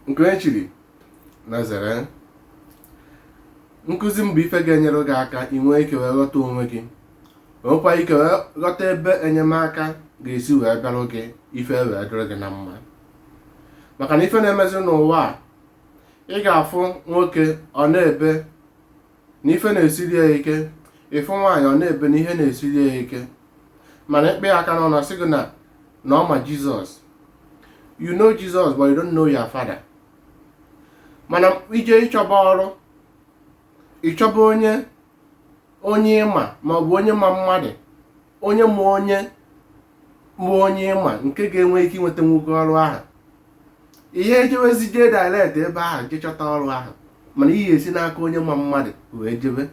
nke onye chiri na zere nkụzi m bụ ife ga-enyere gị aka ị nwee ike wee ghọta onwe gị nwekwa ike wee ghọta ebe enyemaka ga-esi wee bịarụ gị ife wee dịrị gị na mma maka na ife na-emezi n'ụwa a ị ga-afụ nwoke ọ na-ebe na ife na-esiri ya ike ị fụ nwaanyị ọ na-ebe na ihe na-esiri ya ike mana ị kpe ya aka n'ọnụ ọ sị gị na na ọ ma jizọs you know jesus but you don't know your father mana i je ịchọba ọrụ ị chọba onye onye ị ma maọbụ onye ma mmadụ onye ma onye ma onye ị ma nke ga-enwe ike inweta nwoke ọrụ ahụ ihe ejewezi jee direct ebe ahụ jee chọta ọrụ ahụ mana ihe esi n'aka onye ma mmadụ wee jebe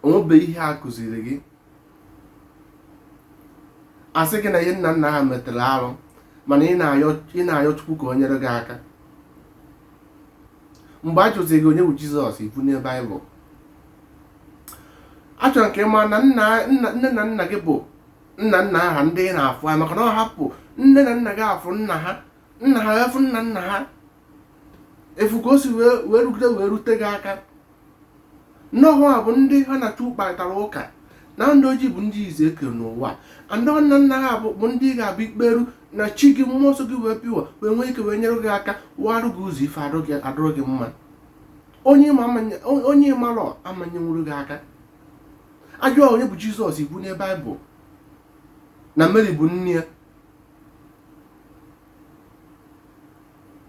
o nwebe ihe a kụziri gị a sị gị na ihe nna nna ha metere arụ mana ị na-ayọ chukwu ka o nyere gị aka mgbe a jụziri gị onye bụ jizọs i bunie baịbụl achọrọ m ka ị mara na nna nna- nne na nna gị bụ nna nna aha ndị ị na-afụ ha maka na ọ hapụ nne na nna gị afụ nna ha nna ha efu nna nna ha efu ka o si wee wee rugide wee rute gị aka nnọọ a bụ ndị ha na chukwu kparịtara ụka na ndị ojii bụ ndị izizi e kere n'ụwa and nna nna ha bụ bụ ndị ị ga-abụ i kperu na chi gị mmụọ nsọ gị wee bịa wee nwee ike wee nyere gị aka warụ gị ụzọ ife arụ gị- adụrụ gị mma onye ị ma ama nye- onye ị marọ ama enyenwuru gị aka a jụọ onye bụ jizọs i bunie baịbụl na mary bụ nne ya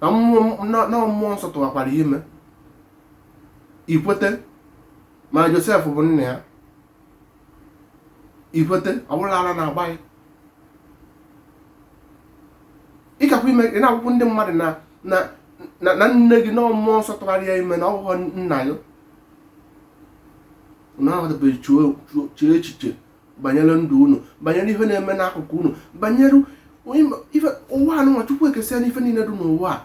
na mmụọ na na mmụọ nsọ tụwakwara ya ime i kwete ma josef bụ nna ya i kwete ọ bụrụ ara na-agba ya ịkakwa ime ị na-akọkwara ndị mmadụ na na na na nne gị na mmụọ nsọ tụwara ya ime na ọ wụghị nna ya unu ahụtabeghị chuo chuo- chee echiche banyere ndụ unu banyere ihe na-eme n'akụkụ unu banyere onye- ife ụwa anụnwa chukwu ekesịa n'ife niile dị n'ụwa a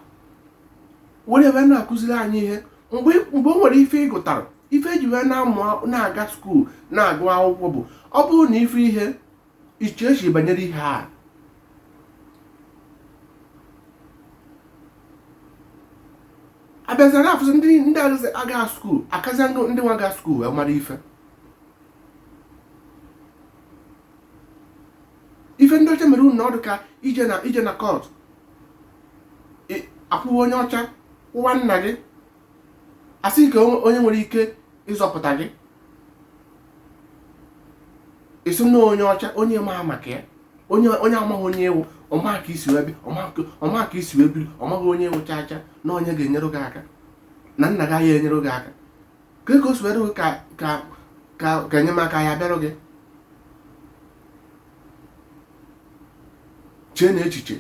were wee na-akụziri anyị ihe mgbe mgbe o nwere ife ị gụtara ife e ji wee na-amụ na-aga skuul na-agụ akwụkwọ bụ ọ bụrụ na ife ihe iche echiche banyere ihe a a bịazịa na-afụzi ndị ndị agaghị aga skuul akazịa ndị ndị nwa ga skuul wee mara ife ife ndị ọcha mere unu na ọ dụ ka i je na i je na kọt a kwụwa onye ọcha kwụwa nna gị a sị kee onye nwere ike ịzọpụta gị ị sị na onye ọcha onye ma maka ya onye onye amaghị onye ị wụ ọ ma ka i si wee bịa ọ ma ka i si wee biri ọ maghị onye ị wụ cha cha na onye ga-enyere gị aka na nna gị ya-enyere gị aka ka o si were ka ka ka ka enyemaka ya bịarụ gị cheenụ echiche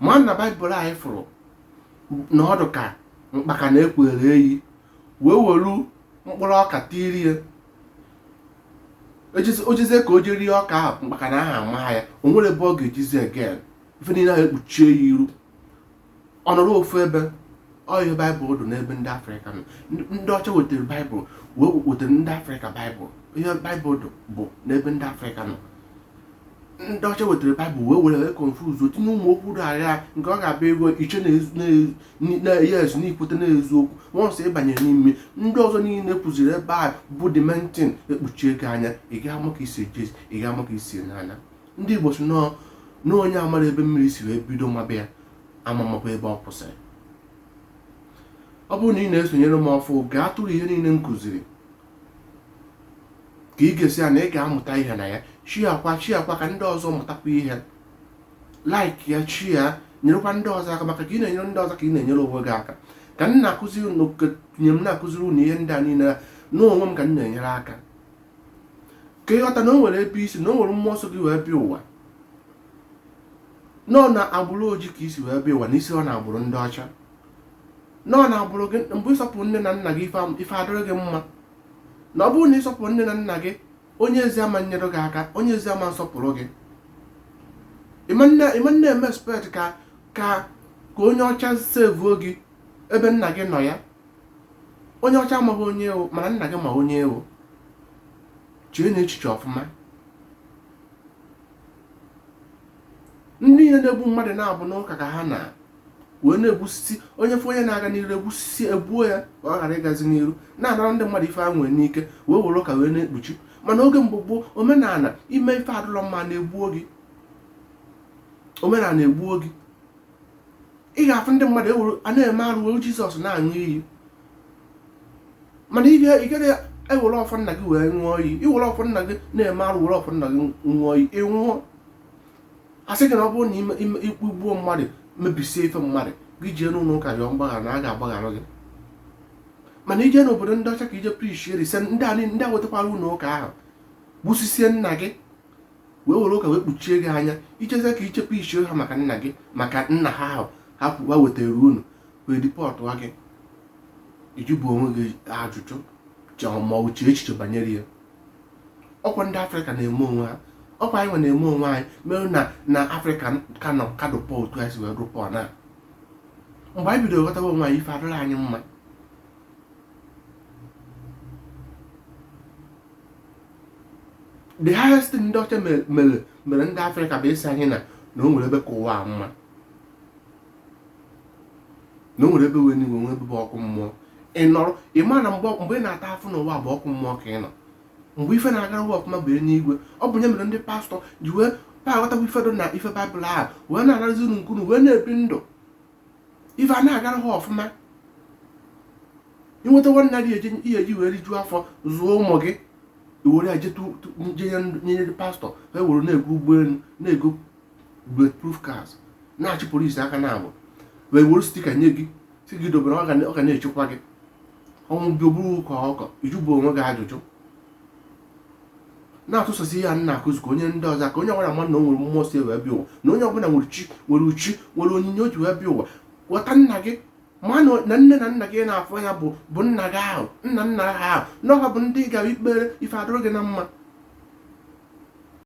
mana baịbụl anyị fụrụ na ọ dụ ka mkpakana e kweere eyi wee welu mkpụrụ ọka tiiri ya o jezie ka o jee rie ọka ahụ mkpakana ahụ ama ya o nwere ebe ọ ga-ejezi again ife niile ahụ ekpuchie ya iru ọ nọrọ ofu ebe ọ ihe baịbụl dụ n'ebe ndị afrịka nọ ndị ọcha wetara baịbụl wee wetara ndị afrịka baịbụl ihe baịbụl dụ bụ n'ebe ndị afrịka nọ ndị ọcha wetara baịbụl wee were confusion tinye ụmụ okwu dị agha nke ọ ga-abụ ị gụọ i chee na yes n'ikwute n'eziokwu once ị banye n'ime ndị ọzọ niile kwụziri ebe a bụ the main thing ekpuchie gị anya ị ga ama ka i si eje ị ga ama ka i si na-ana ndị igbo sị na onye amarọ ebe mmiri si wee bido maba ya amamakwa ebe ọ kwụsịrị ọ bụrụ na ị na-esonyere m ọfụ gaa tụrụ ihe niile m kụziri ka i gesịa ya na ị ga-amụta ihe na ya sharekwa sharekwa ka ndị ọzọ mụtakwa ihe like ya share nyerekwa ndị ọzọ aka maka ka ị na-enyere ndị ọzọ ka ị na-enyere onwe gị aka ka m na-akụziri unu nye m na-akụziri unu ihe ndị a niile n'onwe m ka m na-enyere aka ka ị ghọta na o nwere ebe i si na o nwere mmụọ so gị wee bịa ụwa na ọ na agbụrụ oji ka i si wee bịa ụwa na i sirọ na agbụrụ ndị ọcha na ọ na agbụrụ gị mgbe ị sọpụrụ nne na nna gị ife adịrị gị mma na ọ bụrụ na ị sọpụrọ nne na nna gị onye ezi ama enyere gị aka onye ezi ama asọpụrụ gị ị ma na-eme expect ka ka ka onye ọcha sevuo gị ebe nna gị nọ ya onye ọcha amaghị onye ị wụ mana nna gị ma onye ị wụ cheenụ echiche ọfụma ndị ihe na-egbu mmadụ na ọ bụ n'ụka ka ha nọ wee na-egbusisi onye fụ onye na-aga n'iru egbusisi egbuo ya ka ọ ghara ịgazi n'iru na-anara ndị mmadụ ife ha nwere n'ike wee were ụka wee na-ekpuchi mana oge mgbe gboo omenala i mee ife adụlọ mma ana egbuo gị omenala egbuo gị ị ga-afụ ndị mmadụ ewuru a na-eme arụ were jizọs na-aṅụ iyi mana ị gaghị ewere ọfọ nna gị wee ṅụọ iyi i were ọfọ nna gị na-eme arụ were ọfọ nna gị ṅụọ iyi ị nwụọ a sị gị na ọ bụrụ na i kpugbuo mmadụ mebisie ife mmadụ gị jee n'ụlọ ụka rịọ mgbaghara na a ga-agbaghara gị mana i jee n'obodo ndị ọcha ka i je preachie rise ndị a ndị a wetakwara ụlọ ụka ahụ gbusisie nna gị wee were ụka wee kpuchie gị anya i jezie ka i je preachie ha maka nna gị maka nna ha ahụ ha kwuwa wetara unu wee deportuo gị ị jụbu onwe gị ajụjụ ma ọ chee echiche banyere ya ọkwa ndị afrịka na-eme onwe ha ọkwa anyị nwa na-eme onwe anyị mere na na afrịka ka nọ ka dị poor otu anyị si wee dị poor na mgbe anyị bidoro ghọtawa onwe anyị ife adịrị anyị mma the highest thing ndị ọcha mere mere ndị afrịka bụ ịsị anyị na na o nwere ebe ka ụwa a mma na o nwere ebe bụ enuigwe nwee ebe bụ ọkụ mmụọ ị nọrọ ị ma na mgbe mgbe ị na-ata afụfụ n'ụwa bụ ọkụ mmụọ ka ị nọ mgbe ife na-agara ụwa ọfụma bụ eluigwe ọ bụ nya mere ndị pastọ ji wee pa aghọtakwa ife dị na ife baịbụl ahụ wee na-anazi unu nke unu wee na-ebi ndụ ife a na-agara ha ọfụma i nweta nwantakịrị ihe eji wee rijuo afọ zụọ ụmụ gị i were ya je nye ndị pastọ ha were na-ego ụgbọelu na-ego bulletproof cars na-achị police aka naabọ wee were sticker nye gị sị gị dobere ọ ga na-echekwa gị ọnwụ gị oburu ụka ọkọ ị jụbu onwe gị ajụjụ na-atụsasị ihe a na-akụzi ka onye ndị ọzọ ka onye ọbụla ma na o nwere mmụọ si wee bịa ụwa na onye ọbụla nwere chi nwere uchi nwere onyinye o ji wee bịa ụwa ghọta nna gị ma na nne na nna gị na-afọ ya bụ bụ nna gị ahụ nna nna ha ahụ na ọ ha bụ ndị ị ga-ekpere ife adịrị gị na mma